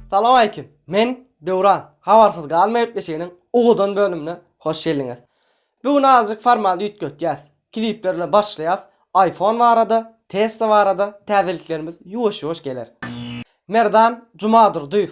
Salawaleýkim. Men Döwran. Habarsyz galma gepleşiginiň ugudan bölümine hoş geldiňiz. Bu gün azajyk formaty üýtgetýäs. Klipler bilen başlaýas. Aýfon barada, Tesla barada täzeliklerimiz ýuwaş-ýuwaş geler. Merdan Jumadurdyýew.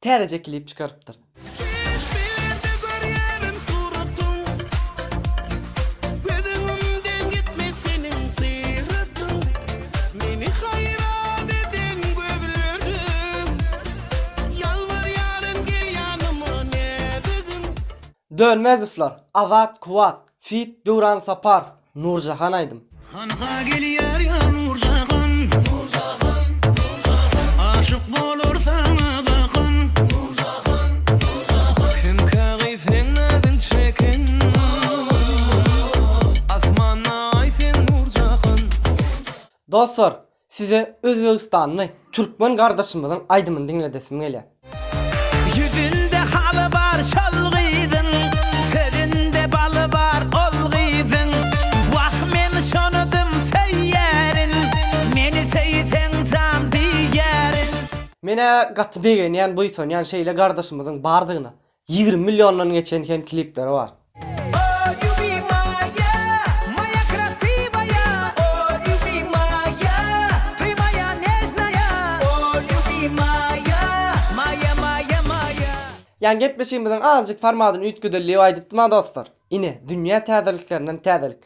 Täzeje klip çykarypdyr. Çykyş berde görýärin suratyň Göz öňümden gitmez seniň syratyň Meni haýran eden gözleriň Ýalbarýaryn gel ýanyma näzigim. Dönmezowlar, Azat, Kuwat, Feat Döwran Saparov Nurjahan aýdym. Hanha gelýär ýa Nurjahan Nurjahan Nurjahan Aşyk bolar saňa bakan Nurjahan Nurjahan Kimkä gyz seň nazyň çeken Asmana aý seň Nurjahan Nurjahan Dostlar Size özbegistanly türkmen gardaşymyzyň aýdymyny diňledesim gelýär. Ýüzünde haly bar şol gyzyň, sözünde baly bar ol gyzyň, wah men şonudym söýýärin, meni söýseň jan diýýärin. Men-ä gaty begenýän, buýsanýan şeýle gardaşymyzyň bardygyna. Ýigrimi milliondan geçen hem klipleri bar. Ýa gepleşigimiziň azajyk formadyny üýtgedeli diýip aýdypdym-a dostlar. Ine, dünýä täzeliklerinden täzelik.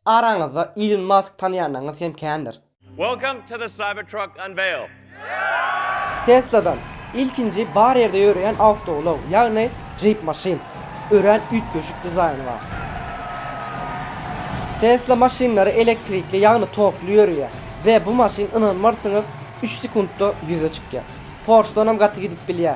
Araňyzda Ilon Mask tanýanyňyz hem kändir. Welcome to the Cybertruck Unveil! Tesla-dan ilkinji bar ýerde ýöreýän awtoulag, ýagny Jeep maşyn. Örän üýtgeşik dizaýny bar. Tesla maşynlary elektrikli, ýagny tokly ýöreýär we bu maşyn ynanmarsyňyz üç sekuntda ýüze çykýar. Porsche-dan hem gaty gidip bilýär.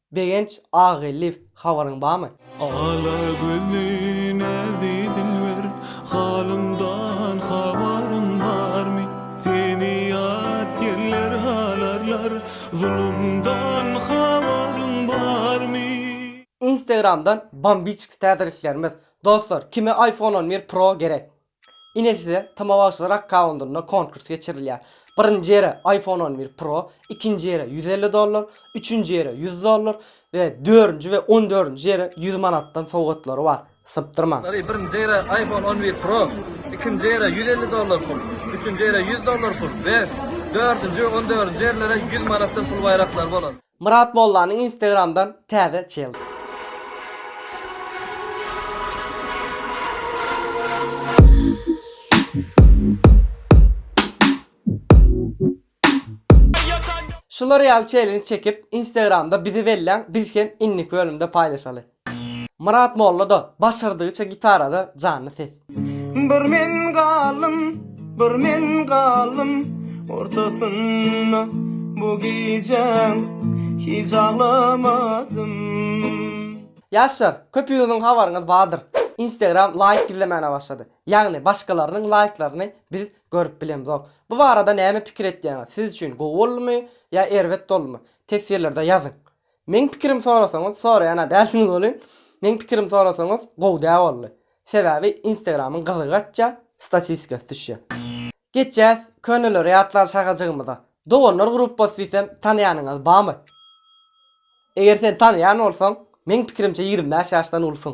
Begenç agy lift habaryň bamy. Ala gözli näzi dilber halymdan habaryň barmy seni ýat ýerler halarlar zulumdan habaryň barmy. Instagramdan bambiçks täzeliklerimiz. Dostlar kime iPhone on bir pro gerek. Ine size Tyma bagşylar akkawundynda konkurs geçirilýär. Birinji ýere iPhone on bir Pro, ikinji ýere ýüz elli dollar, üçünji ýere ýüz dollar we dördünji we on dördünji ýere ýüz manatdan sowgatlary bar. Sypdyrmaň! Ary birinji ýere iPhone on bir Pro, ikinji ýere ýüz elli dollar pul, üçünji ýere ýüz dollar pul we dördünji we on dördünji ýerlere ýüz manatdan pul baýraklary bolar. Myrat Mollanyň Instagramdan täze çildi. Şular ýaly çellenj çekip Instagramda bizi belläň biz hem inniki bölümde paýlaşaly. Myrat molla-da başardygyça gitarada janly ses. Bir men galdym, bir men galdym ortasynda bu gijäň hiç aglamadym. Ýaşlar, köpüňiziň habaryňyz bardyr, Instagram laýk gizlemäne başlady. Ýagny başgalarynyň laýklaryny biz görüp bilemzok. Bu barada näme pikir etýäňiz? Siz üçin gowy boldumy ýa erbet boldumy? Teswirlerde ýazyň. Meň pikirim sorasaňyz soraýana dälsiňiz welin meň pikirim sorasaňyz gowy dä boldy. Sebäbi Instagramyň gyzygy gaçýa, statistikasy düşýä. Geçýäs köneleri ýatlar şagajygymyza. Doganlar gruppasy diýsem tanaýanyňyz bamy? Eger sen tanaýan bolsaň meň pikirimçe ýigrimi bäş ýaşdan ulusyň.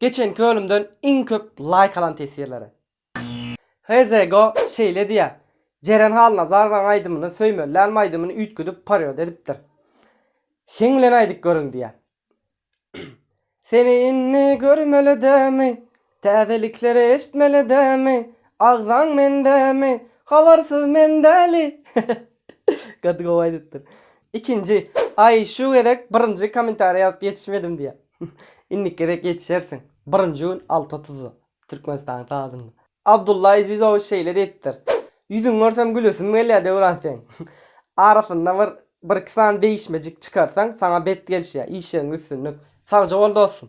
Geçenki bölümden iň köp laýk alan teswirlere. Hezego şeýle diýýär, Jeren Halnazarowaň aýdymyny söýmelilänim aýdymyny üýtgedip parýod edipdir. Heň bilen aýdyp görüň diýýär. Seni indi görmelidämi, täzelikleri eşitmelidämi, agzaň mendämi, habarsyz men däli. Gaty gowy aýdypdyr. Ikinji, aý şu gezek birinji kommentariý ýazyp ýetişmedim diýýär. Indiki gezek ýetişersiň. Birinji gün alty otuzda. Türkmenistanyň sagatynda. Abdulla Ezizowiç şeýle diýipdir. Ýüzüňi görsem gülesim gelýär Döwran seň. Arasynda bir bir iki sany degişmejik çykarsaň saňa bet gelişýär. Işleriňde üstünlik. Sagja bol dostum.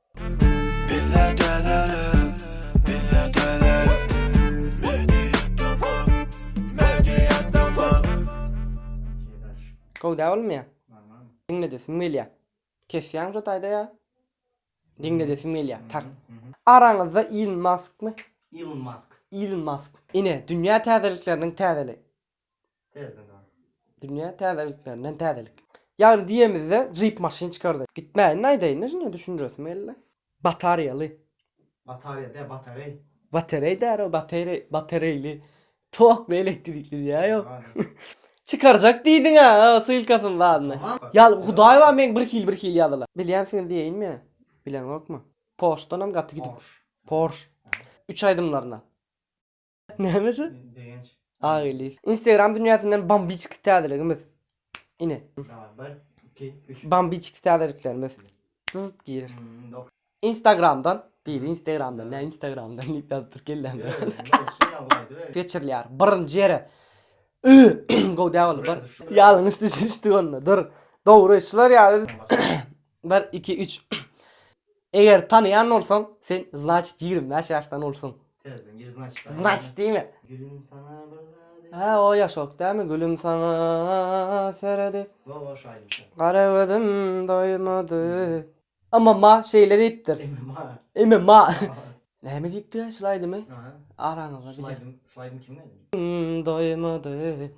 Gowy dä oglum ýa. Diňledesim gelýä. Kesýäň şu taýda ýa. Diňledesim gelýä. Tar. Araňyzda Iln Maskmy? Ilon Mask. Iln Mask. Ine, dünýä täzelikleriniň täzeli. Täzeden. Dünýä täze ilklerinden täzelik. Ýagny diýemizde jeep maşyn çykardy. Gitmäýin aýdaýynda şunda düşündiresim geldi. Batarýaly. Batarýa däl batareý. Batereý dälä batereý batereýli tokly elektrikli diýä ýok. Çykarjak diýdiňä ssylkasyny zadny. Ýaly hudaý bar meň bir hil bir hil ýazylan. Bilýänsiňiz diýeýinmi ýa bileňokmy. Porsche danam gaty gidip. Porsche. Üç aýdymlaryna. Näme şu? Begenç. Agili. Instagram dünýäsinden bambiçki täzeligimiz. Ine. Daway, bir, iki, üç. Bambiçki täzeliklerimiz. Dyzt girer. Hmm, dok- Instagramdan. Bir Instagramdan, ne Instagramdan diýip ýazypdyr kellämde. Öyle, öyle, şey ya, vay, değil mi? Geçirilýär. Birinji ýere. Gowy däl bolup bar. Ýalňyş düşünişdik onda. Dur. Dogry, şular ýaly. Başka- 1 2 3 Eger tanaýan bolsaň sen znaçit ýigrimi bäş ýaşdan ulsuň. Terden gir znaçit aýdýan. Znaçit diýme. Gülüm saňa bir zat edip. Hä o ýaşok dälmi gülüm saňa seredip. Go goş aýdymçy. Gara gözüm doýmady. MMA şeýle diýipdir. MMA. MMA. Näme diýipdi şlaýdymy? Araňyzda bile. Şlaýdym, şlaýdym kimiň aýdymy? Doýmady.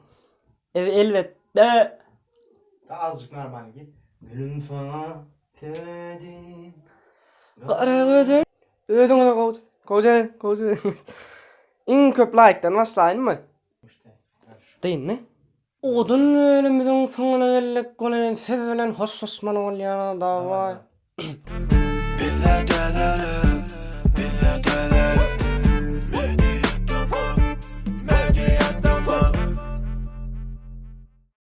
Ew elbetde. Da azjyk normalny git. Gülüm saňa töledim. Gara gözün. Özüňize gowy. Gowy jeren, gowy jeren. Iň köp laýkdan başlaýynmy? Gynmy? Odun bölümüziň soňuna geldik welin siz bilen hoşlaşmaly bolýarys daway.